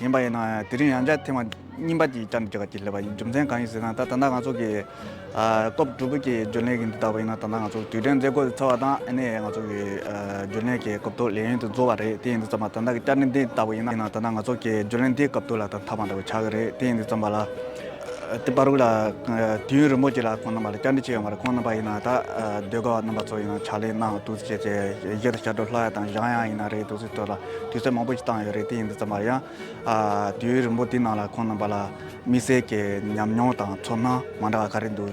ཡིན་པ་ཡིན་ནའང་དེ་རིང་ཡང་བསྐྱར་ཐེངས་མང་རྙིང་པ་གཅིག་བསྐྱར་འདོན་བྱེད་པ་ཅིག་སླེབས་པ་ཡིན་རྒྱུ་མཚན་གང་ཡིན་ཟེར་ན་ད་ད་ལྟ་ང་ཚོ་གི། སྐབས་དྲུག་པའི་གྱི་རྒྱུན་ལས་གྱི་འདི་དག་པ་ཡིན་ན་ད་ལྟ་ང་ཚོ་དུས་དྲན་མཛད་སྒོ་ཚར་བ་དང་ཨ་ནེ་ཡང་ང་ཚོ་གི་རྒྱུན་ལས་གྱི་སྐབས་དྲུག་ལས་ཡུན་དུ་འཛོལ་བ་རེད་དེ་ཡིན་དུ་བརྩམས་པ་ད་ལྟ་གི་བསྐྱར་འདི་དག་པ་ཡིན་ན་ད་ད་ང་ཚོ་གི་རྒྱུན་ལས་འདིའི་སྐབས་དྲུག་ལ་ད་མཐའ་མ་འདྲ་བའི་ཆགས་ཀྱི་རེད་དེ་ཡིན་དུ་བརྩམས་པ་ལ། དེ་པར་རུ་ལ་དུས་ཡུན་རིང་པོ་གཅིག་ལ་ཁོང་རྣམ་པ་ལ་བསྐྱར་འདི་བྱེད་ཡོང་བ་རེད་ཁོང་རྣམ་པ་ཡིན་ན་ད་སྡོད་དགོས་པ་རྣམ་པ་ཚོ་ཡིན་ན་ཕྱག་ལས་གནང་འདུག་ཅེས་བཤད་བཤད་ཀྱི་ཤར་བགྲོད་ལྷོ་ཡ་དང་བཞང་ཡ་ཡིན་ན་རེད་འདུག་ཚུལ་ཐོས་ལ། དུས་ཚོད་མང་པོ་ཞིག་བཏང་ཡོད་རེད་དེ་ཡིན་ཙམ་པ་ཡང། དུས་ཡུན་རིང་པོ་དེའི་ནང་ལ་ཁོང་རྣམ་པ་ལ་མི་སེར་གྱི་ཉམས་མྱོང་དང་ཚོར་སྣང་མང་དྲགས་ག་རེ་འདུག་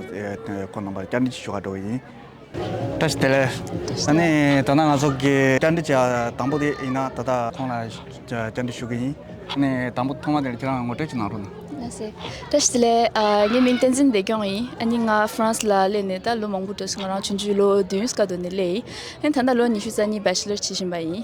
ཁོང་རྣམ་པར་བསྐྱར་འདྲི་ཞུ་བར་འགྲོ་བ་ཡིན། བཀྲ་ཤིས་བདེ་ལེགས། ད་ནི་ད་ལྟ་ང་ཚོ་གི་བསྐྱར་འདྲི་བྱ་དང་པོ་དེ་ཡིན་ན་ད་ལྟ་ཁོང་ལ་བསྐྱར་འདྲི་ཞུ་གི་ཡིན། ནི་དང་པོ་ཐོག་མ་དེར་ཁྱེད་རང་ངོ་སྤྲོད་ཅིག་གནང་རོགས་གནང། བཀྲ་ཤིས་བདེ་ལེགས། ངའི་མིང་བསྟན་འཛིན་བདེ་སྐྱོང་ཡིན། ཨཱ་ནི་ང France ལ་སླེབས་ནས་ད་ལོ་མང་པོ་འགྲོ་སོང་ང་རང་བྱུང་འཇུག་ལོ་བདུན་སྐར་དོ་ནས་སླེབས་ཡིན། ད་ལྟ་ལོ་ཉི་ཤུ་རྩ་གཉིས Bachelor བྱེད་བཞིན་པ་ཡིན།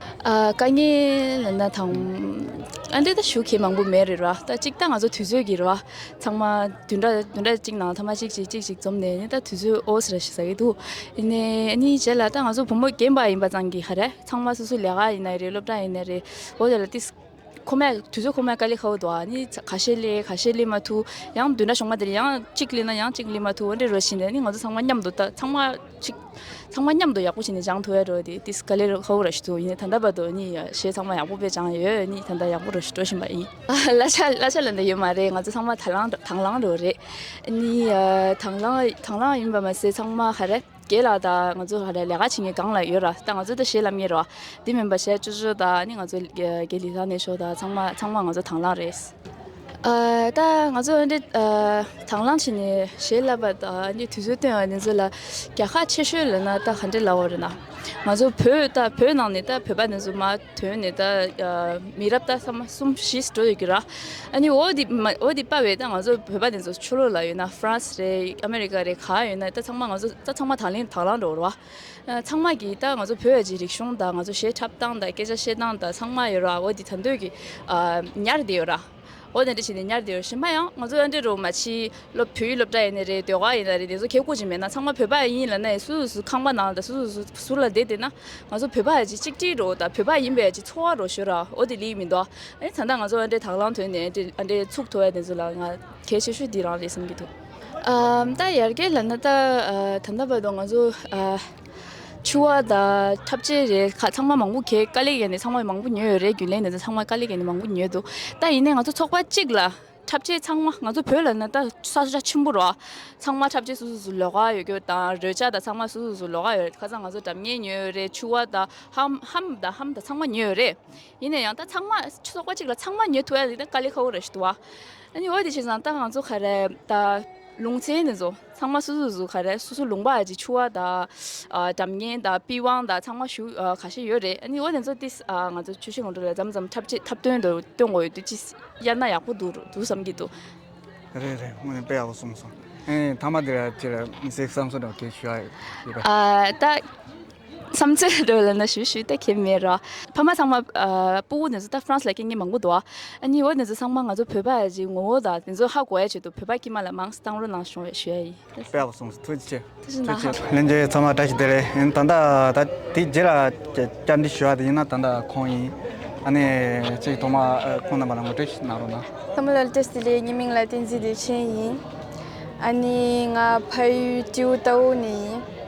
དཀའ་ངལ་ན་དང། ཨ་འདྲེ་ད་ཞུ་ཁེ་མང་པོ་མེད་རེད་ར་ད་ཅིག་ད་ང་ཚོ་དུས་ཚོད་ཀྱི་རེད་བ་ཚང་མ་དུས་འདྲ་དུས་འདྲ་ཅིག་ནང་ཚང་མ་ཅིག་ཅིག་ཅིག་ཅིག་འཛོམས་ནས་ད་དུས་ཚོད་ཨོ་ཟེར་ཟེར་གྱི་འདུག་ནས་ནི་བྱས་ལ་ད་ང་ཚོ་བུ་མོ་རྒན་པ་ཡིན་པ་ཚང་གི་ཧ་རེ་ཚང་མ་སོ་སོ་ལས་ཀ་ཡིན་ན་རེད་སློབ་གྲྭ་ཡིན་ན་རེད་འོ་དེ་ལ་ཏིས་ཁོ་མོས་དུས་ཚོད་ཁོ་མོས་ཀ་ལི་ཁའོ་འདུག་ཨ་ནི་ག་ཤེད་ལེ་ག་ཤེད་ལེ་མ་ཐུག་ཡང་དུས་འདྲ་བྱུང་མ་དེ་རིང་ཡང་གཅིག་ལེ་ན་ཡང་གཅིག་ལེ་མ་ཐུག་འོན་ཏེ་རོ་བྱིན་ནས་ནི་ང་ཚོ་ཚང་མ་མཉམ་དུ་ལྟ་ཚང་མ་གཅིག་ཚང་མ་མཉམ་དུ་ཡག་པོ་བྱིན་ནས་སྦྱང་ཐུབ་ཡ་རོ་དེ་དིས་ཀ་ལི་རོ་ཁའོ་ར་ཤི་ཐུག་ཡིན་ད་ལྟ་བར་དུ་ནི་ཞེས་ཚང་མ་ཡག་པོ་བས་སྦྱང་ཡ་ཡོད་ནི་ད་ལྟ་ཡག་པོ་རོ་ཤི་འགྲོ་བཞིན་པ་ཡིན། གླ་ཆ་གླ་ཆ་ལ་འདི་ཡོད་མ་རེད་ང་ཚོ་ཚང་མ་དང་བླངས་དང་བླངས་རོ་རེད་ཨ་ནི་དང་བླངས་དང་བླངས་ཡིན་པ་མ་ཟད་ཚང་མ་ཧ་རེ། རྒྱལ་ལགས་ད་ང་ཚོ་ལ་ལས་ཀ་བྱེད་མཁན་གང་ལ་ཡོད་ར་ད་ང་ཚོ་ད་བྱེད་ལམ་གཉེར་བ་དེ་མིན་པ་ཞེས་ཅོ་ཅོ་ད་ནི་ང་ཚོ་རྒྱལ་ལི་ལགས་ནས་ཤོག་ད་ཚང་མ་ཚང་མ་ང་ཚོ་དང་བླངས་རེད། ད་ང་ཚོ་འོན་ཏེ་དང་བླངས་བྱས་ནས་བྱེད་ལབ་པ་ད་འདི་དུས་ཚོད་སྟོན་བ་འདི་ཚོ་ལ་རྒྱལ་ཁ་ཆེ་ཤོས་ལོན་ན་ད་ག་འདྲ་ལ་འོ་རེད་ན། ང་ཚོ་བོད་ད་བོད་ནང་ནས་ད་བོད་པ་འདི་ཚོ་མ། དོན་ནི་ད་མི་རབས་ད་ས་མ་གསུམ་བཞིས་འགྲོ་ཡོད་ཀྱི་ར། ཨཱ་ནི་འོ་དེ་མ་འོ་དེ་དཔའ་བས་ད་ང་ཚོ་བོད་པ་ནས་ཚོ་ཆོས་ལུགས་ལ་ཡོད་ན་ཧྥ་རན་སི་རེད་ཨ་མེ་རི་ཀ་རེད་ག་ཡོད་ན་ད་ཚང་མ་ང་ཚོ་ད་ཚང་མ་དང་ལེན་དྭགས་ལང་འགྲོ་ར། ཚང་མ་གྱིས་ད་ང་ཚོ་བོད་ཀྱི་རིག་གཞུང་དང་ང་ཚོ་གཞས་འཁྲབ་སྟངས་དང་སྐད་ཆ་བཤད་སྟངས་དང་ཚང་མ་ཡོད་ར་འོ་དེ་ད་འདོད་ཀྱི་ཨ་ཉར་དེ་ཡོད་ར། འོ་ནས་འདྲི་བྱས་ནས་ཉར་བདེ་བའི་གཞི་མ་ཡང་ང་ཚོ་ཡང་འདྲི་རུང་མ་ཕྱིའི་སློབ་བོད་ཡིག་སློབ་གྲྭ་ཡིན་ནི་རེད་ཟློས་ག་ཡིན་ན་རེད་དེ་ཚོ་ཁྱེད་གོ་ཅིག་མེད་ན་ཚང་མ་བོད་པ་ཡིན་ལ་ནི་སུ་སུ་ཁང་པ་ནང་ལ་དང་སུ་སུ་ཟུར་ལ་བསྡད་བསྡད་ན་ང་ཚོ་བོད་པ་ཡ་གཅིག་གཅིག་དྲིལ་རོགས་དང་བོད་པ་ཡིན་པ་ཡ་གཅིག་འཚོ་བ་རོགས་ཞུ་ར་འོ་དེ་ལིག་མིན་འདོག་ཨ་ད་ལྟ་ང་ཚོ་ཨ་འདྲའི་དྭགས་ལང་དོན་ནི་ཨ་འདྲའི་ཚུགས་ཐོ་ཡ་དེ་ཚོ་ལ་ང་གལ་ཆེ་ཤོས་འདི་རང་རེད་བསམ་གྱི་འདུག་ཨ་ད་ཡར་རྒྱས་ལ་ན་ད་ད་ལྟ་བར་དུ་ང་ཚོ་ཨ། ཆུ་བ་དང་འཁྲབ་ཆས་རེད་ཁ་ཚང་མ་མང་པོ་གས་དཀའ་ལས་ཀྱི་ནས་ཚང་མ་མང་པོ་ཉོས་ཡོད་རེད་རྒྱུན་ལས་ནས་ཚང་མ་དཀའ་ལས་ཀྱི་ནས་མང་པོ་ཉོས་འདུག་ད་ཡིན་ནས་ང་ཚོ་ཚོགས་པ་གཅིག་ལ་འཁྲབ་ཆས་ཚང་མ་ང་ཚོ་བོད་ལ་ན་ད་ས་ཆ་ཆེན་པོ་རོ་ཚང་མ་འཁྲབ་ཆས་སུ་སུ་སུ་ལོག་ཀ་ཡོད་རྒྱུ་དང་རོལ་ཆ་དང་ཚང་མ་སུ་སུ་སུ་ལོག་ཀ་ཡོད་རེད་ཁ་ཚང་ང་ཚོ་འགྲམ་ངེས་ཉོས་ཡོད་རེད་ཆུ་བ་དང་ཧམ་ཧམ་དང་ཧམ་དང་ཚང་མ་ཉོས་ཡོད་རེད་ཡིན་ནས་ཡང་ད་ཚང་མ་ཚོགས་པ་གཅིག་ལ་ཚང་མ་ཉོས་ཐུབ་ཡ་ཡིན་ད་དཀའ་ལས་ཁ་བོ་རེད་ཞུ་ཐུབ་བ་ཨ་ནི་འོ་དེ་བྱས་ཙང་ད་ང་ཚོ་ག་རེད་ད་ལུང་ཚན་ནས་ཟོ། ཚང་མ་སོ་སོའི་གཟུགས་ཁ་རེད་སོ་སོ་ལུང་པ་ཨ་ཅེ་ཆུ་བ་དང་དྲ་མགན་དང་པི་ཝང་དང་ཚང་མ་བཞུགས་ག་ཤེད་ཡོད་རེད་ཨ་ནི་འོ་དེ་ཚོ་ཏིས་ང་ཚོ་ཆོས་ཤིག་ངོ་སྤྲོད་ལ་འཇམ་འཇམ་འཁྲབ་ཆེད་འཁྲབ་སྟོན་དུ་སྟོན་དགོས་ཡོད་དུས་ཅི་གཡར་ན་ཡག་པོ་འདུག་འདུག་བསམ་གྱི་འདུག། རེད་རེད་སྔོན་དཔེ་ཡག་པོ་གསུངས་སོང། ཨེ་ཐ་མ་དེ་ར་ཁྱེད་ར་མི་སེར་བསམ་ཚུལ་འདྲ་བོ་ཁྱེད་ཞུ་ཡག་ཡོད་པས། ཨ་ཏ། བསམ་ཚུལ་འདི་ལ་ནི་ཞུ་ཞུ་ཏེ་ཁེལ་མེད་ར། ཕ་མ་ཚང་མ། སྤུ་བོ་ནི་ཟུ་ད་ཧྥ་རན་སི་ལ་སྐད་ངན་མང་པོ་འདུག་ཨ། ཨ་ནེ་བོ་ནི་ཟུ་ཚང་མ་ང་ཚོ་བོད་པ་ཡི་ངོ་བོ་དང་དེ་ཚོ་ཧ་གོ་ཡ་བྱེད་དུ་བོད་པ་ཀྱི་མ་ལ་མང་སི་སྟང་རོ་ནང་ཤོང་བའི་ཞུ་ཡ་ཡིན། དཔེ་བ་སོང་ཐུགས་རྗེ་ཆེ། ཐུགས་རྗེ་གནང། གླེང་རྒྱུ་ཚང་མ་འདྲ་ཞིག་དེ་རེད་ཡིན་ད་ད་ད་དེའི་རྗེས་ལ་བསྐྱར་འདི་ཞུ་བ་དེ་ཡིན་ན་ད་ད་ཁོང་ཡིན་ཨ་ནེ་གཅིག་ཐོག་མ་ཁོང་རྣམ་པ་ལ་ངོ་སྤྲོད་ཞིག་གནང་རོགས་གནང། བསམ་བློ་བཀྲ་ཟི་ལེ་ཉི་མིང་ལ་བསྟན་འཛིན་བདེ་ཆེན་ཡིན། ཨ་ནེ་ང་ཕ་ཡུལ་སྤྲེའུ་རྟ་བོ་ནས་ཡིན།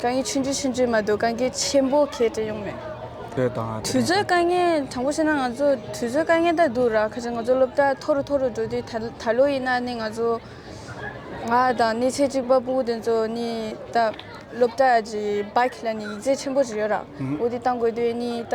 གང་གི་ཆུ་འདྲིས་ཆུ་འདྲིས་མ་གཏོགས་གང་གི་ཆེན་པོ་གལ་ཏེ་ཡོང་མེད། དུས་ཚོད་དཀའ་ངལ་དྲང་པོ་བཤད་ན་ང་ཚོ་དུས་ཚོད་དཀའ་ངལ་དག་འདུག་ར་ཁ་ཅིག་ང་ཚོ་སློབ་གྲྭ་མཐོ་རུ་མཐོ་རུ་འགྲོ་དུས་ད་ལོ་ཡིན་ན་ནི་ང་ཚོ་ང་དང་ནི་ཚེ་གཅིག་པ་སྤུན་དགུ་དེ་ཚོ་ནི་ད་སློབ་གྲྭ་གི་སྦག་ལ་ནི་ཡིག་རྩིས་ཆེན་པོ་ཞིག་ཡོད་ར་འོ་དེ་བཏང་དགོས་དུས་ནི་ད།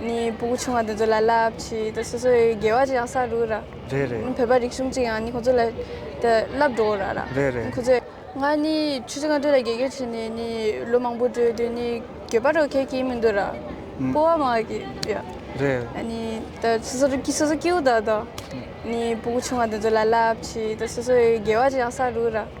ནས་སྤུ་གུ་ཆུང་བ་དེ་ཚོ་ལ་རླབས་ཆེ་དེ་སོ་སོའི་དགེ་བ་ཡང་བསགས་འགྲོ་གི་རེད། རེད་རེད། བོད་པ་རིག་གཞུང་གཅིག་ཡང་ནི་ཁོང་ཚོ་ལ་དེ་བསླབས་འགྲོ་གི་རེད། རེད་རེད། ཁོང་ཚོས་ང་ནི་ཆུ་ཚོད་ལྔ་དྲུག་ལ་དགེ་རྒན་བྱས་ནས་ནི་ལོ་མང་པོ་འགྲོ་དུས་ནི་གྱོད་པ་རོགས་མཁན་གྱི་མི་འདུག་ར། སྤོ་བ་མང་གི་ཡོད། རེད། ནི་དེ་སོ་སོ་རིག་གི་སོ་སོ་སྐྱེ་བོ་དག་དང། ནི་སྤུ་གུ་ཆུང་བ་དེ་ཚོ་ལ་རླབས་ཆེ་དེ་སོ་སོའི་དགེ་བ་ཡང་བསགས་འགྲོ་གི་རེད།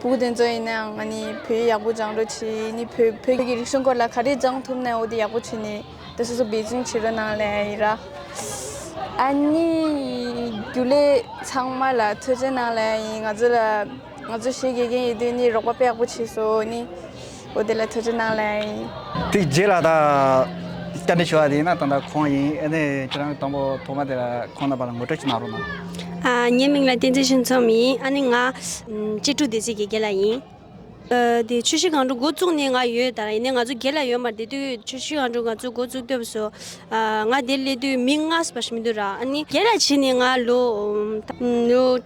བུ་དེ་ཚོ་ཡིན་ནའང་ང་ནི་བོད་ཡག་པོ་སྦྱང་རོགས་བྱེད་ཡིན་ནི་བོད་བོད་ཀྱི་རིག་གཞུང་སྐོར་ལ་ག་རེ་སྦྱང་ཐུབ་ནའོ་དེ་ཡག་པོ་བྱེད་ནི་དེ་སོ་སོ་འབད་བརྩོན་བྱེད་རོགས་གནང་ལེ་ཡི་ར། ཨ་ནི་རྒྱུ་ལས་ཚང་མ་ལ་ཐུགས་རྗེ་གནང་ལེ་ཡིན་ང་ཚོ་ལ་ང་ཚོ་ཞེས་དགེ་རྒན་ཡིན་དུས་ནི་རོགས་པ་དཔེ་ཡག་པོ་བྱེད་སོ་ནི། བུ་དེ་ལ་ཐུགས་རྗེ་གནང་ལེ། དེའི་རྗེས་ལ་དང། བསྐྱར་འདྲི་ཞུ་བ་དེ་ཡིན་ན་ད་ལྟ་ཁོང་ཡིན་ཨེ་ནས་ཁྱེད་རང་གི་དང་པོ་ཐོག་མ་དེ་ལ་ཁོང་རྣམ་པ་ལ་ངོ་སྤྲོད་ཅིག་གནང་རོགས་གནང། ངའི་མིང་ལ་བསྟན་འཛིན་ཤིང་ཚོམ་ཡིན་ཨ་ནི་ང། གཅེས་ཕྲུག་སྡེ་སྲིད་ཀྱི་དགེ་ལ་ཡིན། དེ་ཆུ་བཞི་གངས་ཕྲུག་འགོ་བཙུགས་ནས་ང་ཡོད་ད་ཡིན་ནས་ང་ཚོ་དགེ་ལ་ཡོད་མར་དེ་དུས་ཆུ་བཞི་གངས་ཕྲུག་ང་ཚོ་འགོ་བཙུགས་སྐབས་སུ། ང་དེར་སླེབས་དུས་མི་ལྔ་སུ་བ་ཞིག་མི་འདུག་ར་ཨ་ནི། དེ་ལ་ཕྱིན་ནས་ང་ལོ།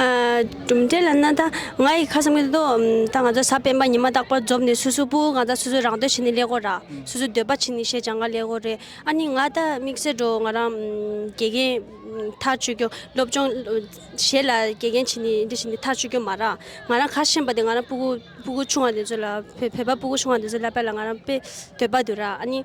གྲུབ་འབྲས་ལ་ན་ད་ང་ཡི་ཁ་བསམ་གྱི་འདུག་ད་ང་ཚོ་ས་སྤེན་པ་ཉི་མ་རྟག་པར་འཛོམས་ནས་སུ་སུ་པུ་ང་ད་སུ་སུ་རང་འདོད་བྱེད་ནི་ཀླད་ཀོར་ར་སུ་སུ་འདོད་པ་བྱེད་ནི་ཞེས་བྱ་འགའ་ཀླད་ཀོར་རེད་ཨ་ནི་ང་ད་དམིགས་བསལ་འགྲོ་ང་རང་དགེ་རྒན་ཐག་གཅོད་རྒྱུ་སློབ་སྦྱོང་བྱེད་ལ་དགེ་རྒན་བྱེད་ནི་འདི་བྱེད་ནི་ཐག་གཅོད་རྒྱུ་མ་རག་ང་རང་ཁ་ཞེན་པ་དེ་ང་རང་སྤུ་གུ་སྤུ་གུ་ཆུང་བ་དེ་ཚོ་ལ་བོད་པ་སྤུ་གུ་ཆུང་བ་དེ་ཚོ་ལ་པད་ལ་ང་རང་དཔེ་འདོད་པ་དུ་ར་ཨ་ནི་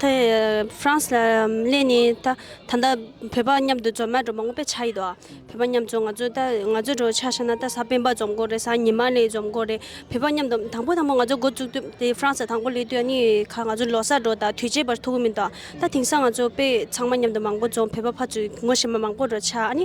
ད་ཧྥ་རན་སི་ལ་གླེང་ནས་ད་ད་ལྟ་བོད་པ་མཉམ་དུ་འཛོམས་ན་འགྲོ་མང་པོ་པའི་ཆ་ཡིད་དོ། བོད་པ་མཉམ་འཛོམས་ང་ཚོ་ད་ང་ཚོའི་འགྲོ་ཆ་ཤ་ན་ད་ས་སྤེན་པ་འཛོམས་དགོ་རེད་ས་ཉི་མ་ལེ་འཛོམས་དགོ་རེད་བོད་པ་མཉམ་དུ་དང་པོ་དང་པོ་ང་ཚོ་འགོ་བཙུགས་དུས་ད་ཧྥ་རན་སི་ལ་དང་པོ་གླེང་དུས་ནི་ཁ་ང་ཚོ་ལོ་སར་འགྲོ་ད་དུས་བྱས་པར་ཐུག་གི་མིན་དོ་ད་དེང་སང་ང་ཚོ་དཔེ་ཚང་མ་མཉམ་དུ་མང་པོ་འཛོམས་བོད་པ་ཕ་ཚུ་ངོ་ཤེས་མ་མང་པོ་འགྲོ་ཆ་ཨ་ནི་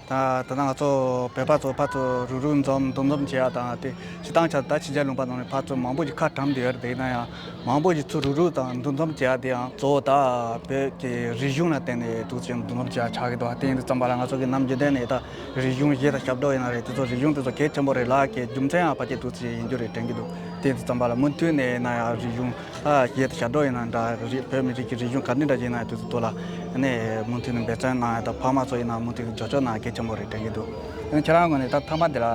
ད་ནངས་ཚོ་བོད་པ་ཚོ་ཕར་ཚུར་རུག་རུག་འཛོམས་རྡོག་འཛོམས་བྱས་པ་དང་དེ་ཕྱི་ཐང་ཆ་ད་ཕྱི་རྒྱལ་ལུང་པ་ནང་ནས་ཕར་ཚུར་མང་པོ་ཞིག་ཁ་གྲམ་བསྡད་ཡོད་རེད་ན་ཡང་མང་པོ་ཞིག་ཚུར་རུག་རུག་དང་འདུ་འཛོམས་བྱས་པ་དེ་ཡང་གཙོ་བོ་ད་བོད་ཀྱི་རིག་གཞུང་ལ་བརྟེན་ནས་ཐུགས་རྗེ་འདུ་འཛོམས་བྱས་ཆགས་ཀྱི་འདུག་དེ་འདི་ཙམ་པ་ལ་ང་ཚོ་གི་ནམ་རྒྱུན་ལྡན་ནས་ད་རིག་གཞུང་གཞས་དང་ཞབས་བྲོ་ཡིན་ན་རེད་དེ་ཚོ་རིག་གཞུང་དེ་ཚོ་གལ་ཆེན་པོ་རེད་ལགས་ཀྱི་རྒྱུ་མཚན་ཡང་ཕ་སྐད་ཐུགས་རྗེ་ཡིན་རྒྱུ་རེད་དྲན་གྱི་འདུག་དེ་འདི་ཙམ་པ་ལ་མུ་མཐུད་ནས་ན་ཡང་རིག་གཞུང། ཞེས་དང་ཞབས་བྲོ་ཡིན་ན་འདྲ་རིགས་བོད་མི་རིགས་ཀྱི་རིག་གཞུང་ག་ནས་འདྲ་ཞིག་ཡིན་ན་དེ་ཚོ་ཐུགས་ལ་གནས་མུ་མཐུད་ནས་འབད་བརྩོན་གནང་ཡོད་ཕ་མ་ཚོ་ཡིན་ན་མུ་མཐུད་ཇོ་ཇོ་གནང་གལ་ཆེན་པོ་རེད་དྲན་གྱི་འདུག་ཡང་ཁྱེད་རང་ངོས་ནས་ད་མཐའ་མ་འདི་ལ་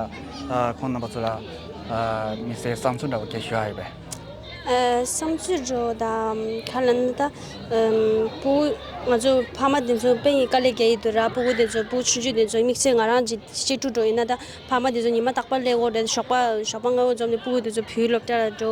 ཁོང་རྣམ་པ་ཚོ་ལ་མི་ཚེའི་བསམ་ཚུལ་འདྲ་བོ་སྐྱེལ་ཞུ་ཡག་ཡོད་པས། བསམ་ཚུལ་འདྲ་བོ་དང་ཁ་ལ་ནི་ད་བུ་ང་ཚོ་ཕ་མ་དེ་ཚོ་དཔེ་ཡིས་དཀའ་ལས་བརྒྱལ་ཡི་འདུག་ར་སྤུ་གུ་དེ་ཚོ་བུ་ཆུང་ཆུང་དེ་ཚོ་དམིགས་བསལ་ང་རང་གཅིག་གཅིག་དྲུག་འགྲོ་ཡི་ན་ད་ཕ་མ་དེ་ཚོ་ཉི་མ་རྟག་པར་སླེབས་འོག་དེ་ཞོགས་པ་ཞོགས་པ་ང་འོ་འཛོམས་ནས་སྤུ་གུ་དེ་ཚོ་བུའི་སློབ་གྲྭ་ལ་འགྲོ་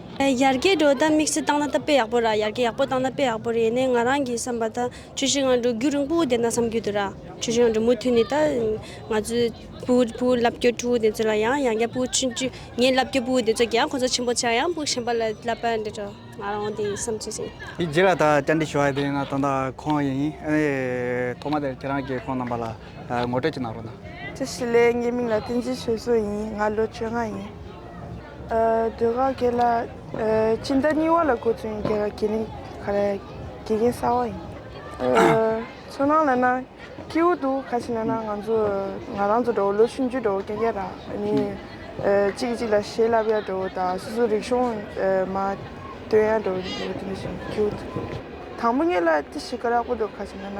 ཡར་རྒྱས་འགྲོ་སྟངས་དམིགས་བསལ་བཏང་ན་སྟབས་པེ་ཡག་པོ་ར་ཡར་རྒྱས་ཡག་པོ་བཏང་ན་དཔེ་ཡག་པོ་རེད་ནས་ང་རང་གི་བསམ་པ་ད་ཆོས་ཤིག་ང་འགྲོ་རྒྱུགས་རིང་པོ་བསྡད་ན་བསམ་རྒྱུ་དུ་ར་ཆོས་ཤིག་ང་འགྲོ་མུ་མཐུད་ནས་ད་ང་ཚོའི་བུ་བུ་བསླབ་རྒྱུ་ཕྲུ་གུ་དེ་ཚོ་ལ་ཡང་ཡང་བསྐྱར་བུ་ཆུང་ཆུང་ངའི་བསླབ་རྒྱུ་བུ་དེ་ཚོ་གྱིས་ཡང་ཁོ་ཚོ་ཆེན་པོ་ཆགས་ཡང་བུ་གཞན་པ་ལ་བསླབ་པར་འདོད་དོ་ང་རང་དེ་བསམ་ཚོད་ཟིན། དེ་རྗེས་ལ་ད་བསྐྱར་འདྲི་ཞུ་བ་དེ་ང་དང་ད་ཁོང་ཡིན་ཨ་ནི་ཐོག་མ་དེར་ཁྱེད་རང་གིས་ཁོང་རྣམ་པ་ལ་ངོ་སྤྲོད་ཅིག་གནང་རོགས་གནང། ཅི་ཞིག་ལས་ངའི་མིང་ལ་ཏིན་ཅི་ཞོལ་སོ་ཡིན་ང་ལོ་བཅོ་ལྔ་ཡིན། འདོད་ཁ་སྐད་ལ། སྤྱི་ཟླ་གཉིས་བར་ལ་གོ་ཚོད་ཡིན་རྒྱལ་ཁ་དགེ་ལེགས་ཁ་རལ་དགེ་རྒན་གསར་བ་ཡིན། ཚོར་སྣང་ལ་ན། སྐྱིའུ་འདུག་ཁ་ཞིག་ན་ན་ང་ཚོ་ང་རང་ཚོ་འདྲ་བོ་ལོ་ཆུང་བརྒྱུད་འདྲ་བོ་སྐད་རྒྱག་རག་ནི། གཅིག་གིས་གཅིག་ལ་ཞེ་ལབ་ཡག་འདྲ་བོ་དང་སོ་སོ་རིག་གཞུང་མ་སྟོན་ཡག་འདྲ་བོ་ཡིན་འདུག་དེ་འདྲ་བཞིན་སྐྱིའུ་འདུག། དང་པོ་ངེད་ལ་ཅི་ཞིག་ག་རག་པོ་འདུག་ཁ་ཞིག་ན་ན།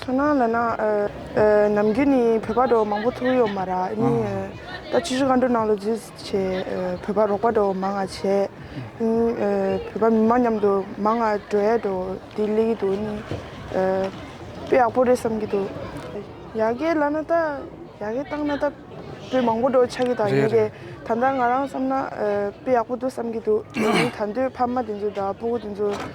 ཚོར་སྣང་ལ་ན། ནམ་རྒྱུན་ནི་བོད་པ་འགྲོ་མང་པོ་ཐུག་ཡོད་མ་རག་ཨ་ནི། ད་ཕྱི་ཕྱི་ག་འགྲོ་ནང་ལོ་རྫིས་བྱས་བོད་པ་རོགས་པ་འགྲོ་མང་ང་བྱས། བོད་པ་མི་མང་མཉམ་དུ་མང་ང་འགྲོ་ཡས་འགྲོ་དེ་གླེ་གི་འདུག་ཨ་ནི། དཔེ་ཡག་པོ་རེད་བསམ་གི་འདུག་ཡ་གི་ལ་ན་ད་ཡ་གི་བཏང་ན་ད་བོད་མང་པོ་འགྲོ་ཆག་གི་དང་ཡ་གི་ད་ལྟ་ང་རང་བསམ་ན་དཔེ་ཡག་པོ་འདུག་བསམ་གི་འདུག་ད་དུས་ཕ་མ་དེ་ཚོ་ད་སྤུ་གུ་དེ་ཚོ།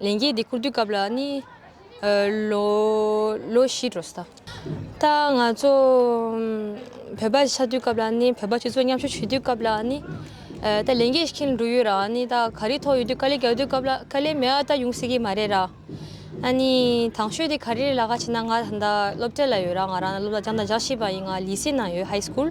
ལས་འགན་འདི་འཁུར་དུས་སྐབས་ལ་ནི། ལོ་བཞི་འགྲོ་ས་ད། ད་ང་ཚོ་བོད་པ་ཆགས་དུས་སྐབས་ལ་ནི་བོད་པ་སྤྱི་ཚོགས་མཉམ་ཞུགས་བྱེད་དུས་སྐབས་ལ་ནི། ད་ལས་འགན་ཤིག་འགྲོ་ཡོད་ར་ནི་ད་ག་རེ་ཐོག་ཡོད་དུས་དཀའ་ལས་རྒྱག་དུས་སྐབས་ལ་དཀའ་ལས་མེད་ཨ་ད་ཡོང་སྲིད་ཀྱི་མ་རེད་ར། ཨ་ནི་དང་ཤོས་དེ་ག་རེ་རེད་ལགས་ཁ་བྱེད་ན་ང་ད་སློབ་གྲྭ་ལ་ཡོད་ར་ང་རང་སློབ་གྲྭ་རྒྱང་ཐག་རྒྱག་བཞིན་པ་ཡིན་ང་ལི་སི་ནང་ཡོད High School།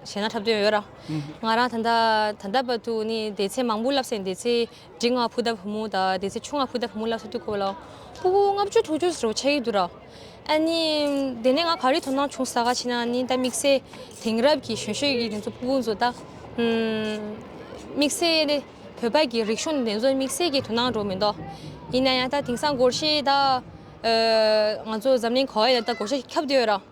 བྱས་ན་འཁྲབ་དོན་ཡོད། ང་རང་ད་ལྟ་ད་ལྟ་བར་དུ་ནི་དེ་ཚེ་མང་པོ་བསླབས་ཟིན་དེ་ཚེ་འབྲི་ལྔ་བུ་ད་བུ་མོ་དང་དེ་ཚེ་ཆུང་ང་བུ་ད་བུ་མོ་བསླབས་ས་དུས་ཁོ་བོ་ལ་སྤུ་གུ་ལྔ་བཅུ་དྲུག་བཅུ་ཟེར་བ་ཆགས་ཀྱི་འདུག་ར་ཨ་ནི། དེ་ནས་ང་ག་རེ་དོ་སྣང་བྱུང་ས་ག་ཕྱིན་ན་ནི་ད་དམིགས་བསལ་དེང་རབས་ཀྱི་གཞོན་ཤོས་ཀྱི་དེ་ཚོ་སྤུ་གུ་ཚོ་ད། དམིགས་བསལ་བོད་པ་གི་རིག་གཞུང་དེ་ཚོ་དམིགས་བསལ་གྱི་དོ་སྣང་འགྲོ་མི་འདུག་ཡིན་ན་ཡང་ད་དེང་སང་སྒོར་གཞས་ད། ང་ཚོ་འཛམ་གླིང་གོ་ཨེ་ལ་ད་སྒོར་གཞས་ཁྱབ་བསྡད་ཡོད་ར།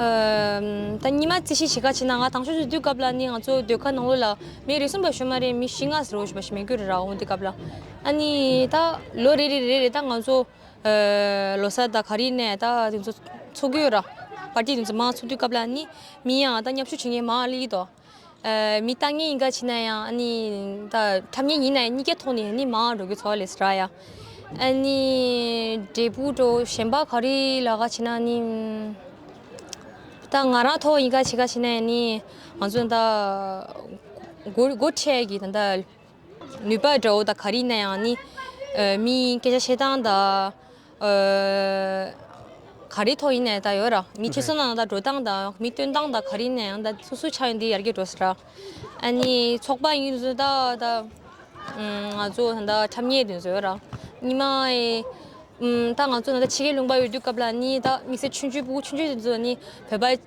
ད་ཉི་མ་རྩིས་ཤིག་བྱེད་ཁ་ཆེ་ན་ང་དང་ཆོས་ཆོས་དུས་སྐབས་ལ་ནི་ང་ཚོ་སྡོད་ཁ་ནང་ལོ་ལ་མི་རེ་གསུམ་པ་ཞོ་མ་རེ་མི་བཞི་ལྔ་ཟེར་བ་ཞིག་མི་རྒྱུ་རེ་རག་འོང་དུས་སྐབས་ལ་ཨ་ནི་ད་ལོ་རེ་རེ་རེ་རེ་ད་ང་ཚོ་ལོ་སར་ད་ག་རེ་ནས་ད་དེ་ཚོ་འཚོགས་ཀྱི་ཡོད་ར་བར་དེ་དེ་ཚོ་མ་འཚོགས་དུས་སྐབས་ལ་ནི་མི་ཡང་ད་མཉམ་ཞུགས་བྱེད་མཁན་མང་ཨ་ལི་ཡིད་དོ། མི་ཏང་ཉེ་ཡིན་ག་ཕྱིན་ན་ཡང་ཨཱ་ནི་ཁྲམ་ཉེ་ཡིན་ན་ཡང་གཉིས་ཀའི་ཐོག་ནས་ནི་མའང་འགྲོ་གི་ཚོ་ལས་སྲ་ཡ། ཨཱ་ནི་འབྲས་བུ་འགྲོ་གཞན་པ་ག་རེ་ལ་ག་ཕྱིན་ན་ནི། ད་ང་རང་ཐོག་ཡིན་ག་ཕྱིན་ག་ཕྱིན་ན་ཡང་ནི་ང་ཚོ་ད་ལྟ་སྒོ་ཁྲལ་གྱི་ད་ལྟ། ནུས་པ་དགྲ་བོ་དང་ག་རིག་ན་ཡང་ནི། མི་ཡིན་སྐད་ཆ་བཤད་སྟངས་དང། ག་རེའི་ཐོག་ཡིན་ནའི་ད་ཡོད་ར། མི་ཁྱི་སོ་ན་ན་ད་འགྲོ་སྟངས་དང་མི་སྟོན་སྟངས་དང་ག་རིག་ན་ཡང་ད་སུ་སུ་ཆ་ཡོད་འདི་ཡར་རྒྱས་འགྲོ་སྲིད་ར། ཨ་ནི་ཚོགས་པ་ཡིན་ཟོ་ད་ད། ང་ཚོ་ད་ད་འཁྲབ་ཉེས་ཡིན་ཟོ་ཡོད་ར། ཉི་མ་ཨེ། ད་ང་ཚོ་ད་ད་ཕྱི་རྒྱལ་ལུང་པ་ཡོད་དུས་སྐབས་ལ་ནི་ད་དམིགས་བསལ་ཆུ་འཇུ་སྤུ་གུ་ཆུ་འཇུ་ཡིན་ཟོ་ནི་བོད་པ།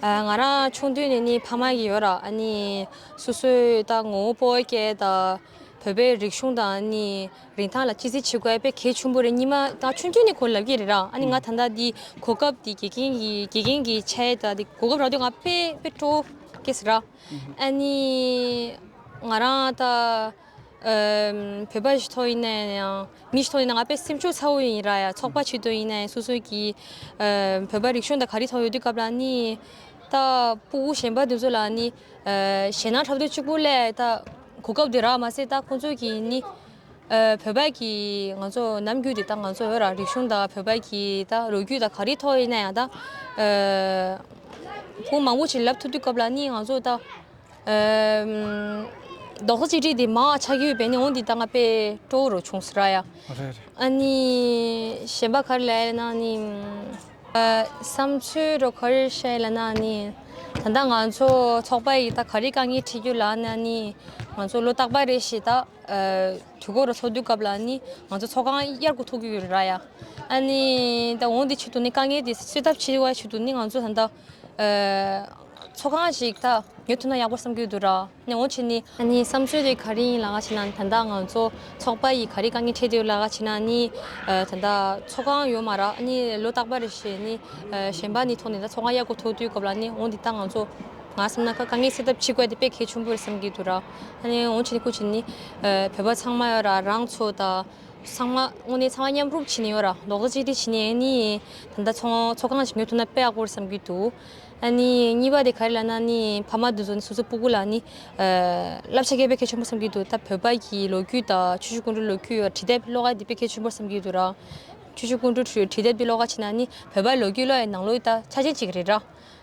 ང་རང་ཆུང་དུས་ནས་ནི་ཕ་མ་ཡི་ཡོད་ར་ཨ་ནི་སོ་སོའི་ད་ངོ་བོ་པོའི་སྐད་ད་བོད་པའི་རིག་གཞུང་དང་ཨ་ནི་རིན་ཐང་ལ་ཅི་ཟེར་བྱེད་དགོས་པའི་གལ་ཆུང་པོ་རེ་གཉིས་མ་ད་ཆུང་དུས་ནས་གོ་ལབ་ཀྱི་རེད་ར་ཨ་ནི་ང་ད་ད་དི་གོ་སྐབས་དི་དགེ་རྒན་གི་དགེ་རྒན་གི་ཆ་ཡེ་ད་དི་གོ་སྐབས་རག་དུས་ང་དཔེ་དཔེ་སྤྲོ་སྐད་ཟེར་ར་ཨ་ནི་ང་རང་ད། བོད་པ་ཞིག་ཐོག་ཡིན་ན་ཡང་མི་ཞིག་ཐོག་ཡིན་ན་ང་པའི་སེམས་ཤུགས་ཚ་བོ་ཡིན་ར་ཡ་ཚོགས་པ་ཆེད་དུ་ཡིན་ན་ཡང་སོ་སོ་གི་བོད་པ་རིག་གཞུང་དང་ག་རེ་ཐོག་ཡོད་དུས་སྐབས་ལ་ནི་ད་སྤུ་བོ་གཞན་པ་དེ་ཚོ་ལ་ནི་ཞེད་སྣང་འཁྲབ་འདོད་གཅིག་པུ་ལས་ད་གོ་སྐབས་དེ་རག་མ་ཟད་ད་ཁོང་ཚོ་གི་ནི་བོད་པ་གི་ང་ཚོ་ནམ་རྒྱུན་དེ་ད་ང་ཚོ་བོད་རང་རིག་གཞུང་དང་བོད་པ་གི་ད་ལོ་རྒྱུས་དང་ག་རེ་ཐོག་ཡིན་ན་ཡང་ད་བོང་མང་པོ་ཞིག་ལབ་ཐུབ་དུས་སྐབས་ལ་ནི་ང་ཚོ་ད་རྡོག་རྩ་གཅིག་སྒྲིལ་དེ་མང་བ་ཆགས་ཀྱི་ཡོད་པས་ནི་འོང་འདི་ད་ང་པས་སྤྲོ་རུ་ཆུང་ཟེར་ར་ཡ། ཨཱ་ནི། གཞན་པ་གར་ལས་ན་ནི། བསམ་ཚུལ་རོ་གར་བཤད་ལ་ན་ནི། ད་ལྟ་ང་ཚོ་ཚོགས་པ་ཡིས་ད་ག་རེ་དཀའ་ངལ་འཕྲད་རྒྱུ་ལ་ན་ནི། ང་ཚོ་ལོ་རྟག་པ་རེ་ཞིག་ད་དུས་འཁོར་རུ་འཚོགས་དུས་སྐབས་ལ་ནི་ང་ཚོ་ཚོགས་ཁང་གཡར་གུ་ཐུག་གི་ཡོད་ར་ཡ། ཨཱ་ནི། ད་འོང་འདི་ཆུད་དུ་ནི་དཀའ་ངལ་དེ་སེལ་ཐབས་བྱེད་བའི་ཆུད་དུ་ནི་ང་ཚོ་ད་ལྟ། ཚོགས་ཁང་ཞིག་ད་ཉོ་ཐུབ་ན་ཡག་པོ་བསམ་གྱི་འདུག་ར་ནས་འོང་ཆེད་ནི། ཨ་ནི་བསམ་ཚུལ་རེ་ག་རེ་ཡིན་ལགས་ཞེ་ན་ད་ལྟ་ང་ཚོ་ཚོགས་པ་ཡིས་ག་རེ་དཀའ་ངལ་འཕྲད་ཀྱི་ཡོད་ལགས་ཞེ་ན་ནི། ད་ལྟ་ཚོགས་ཁང་ཡོད་མ་ར་ཨ་ནི་ལོ་རྟག་པ་རེ་བྱས་ནི་གཞན་པ་ནི་ཐོག་ནས་ད་ཚོགས་ཁང་གཡར་དགོས་ཐུག་དུས་སྐབས་ལ་ནི་འོང་འདི་ད་ང་ཚོ་ང་བསམ་ན་དཀའ་ངལ་སེལ་ཐབས་ཕྱིས་དགོས་དེ་དཔེ་གལ་ཆུང་པོ་རེ་བསམ་གྱི་འདུག་ར་ནས་འོང་ཆེད་ནི་ཁུ་ཆེ་ནི་བོད་པ་ཚང་མ་ཡོད་ར་རང་ཚོ་ད། ཚང་མ་དངོས་གནས་ཚང་མ་མཉམ་རུབ་བྱེད་ནས་ཡོད་ར་འདོག་ཟེར་གྱི་དེ་བྱས་ནས་ཨ་ནི་ད་ལྟ་ཚོང་ཚོགས་ཁང་ཞིག་ནོད་ཐུབ་ན་དཔེ་ཡག་པོ་རེད་བསམ་གྱི་འདུག་ཨ་ནི་གཉིས་པ་དེ་ག་རེ་ལ་ན་ཨ་ནི་ཕ་མ་དེ་ཚོ་ནི་སོ་སོའི་སྤུ་གུ་ལ་ནི་བསླབ་བྱ་སྐད་དཔེ་ཁས་ཆོན་པོ་བསམ་གྱི་འདུག་ད་བོད་པ་གྱི་ལོ་རྒྱུས་དང་ཆོས་ཕྱུག་ཀུན་གྲོལ་ལོ་རྒྱུས་ཡོད་ར་བྲིས་དེབ་ཀློག་ཨ་དེ་དཔེ་ཁས་ཆོན་པོ་བསམ་གྱི་འདུག་ར་ཆོས་ཕྱུག་ཀུན་གྲོལ་བྲིས་དེབ་དེ་ཀློག་ཨ་བྱས་ན་ཨ་ནི་བོད་པ་ལོ་རྒྱུས་བློ་ཡི་ནང་ལོ་ཡི་ད་ཆ་ཅན་ཅིག་རེད་ར།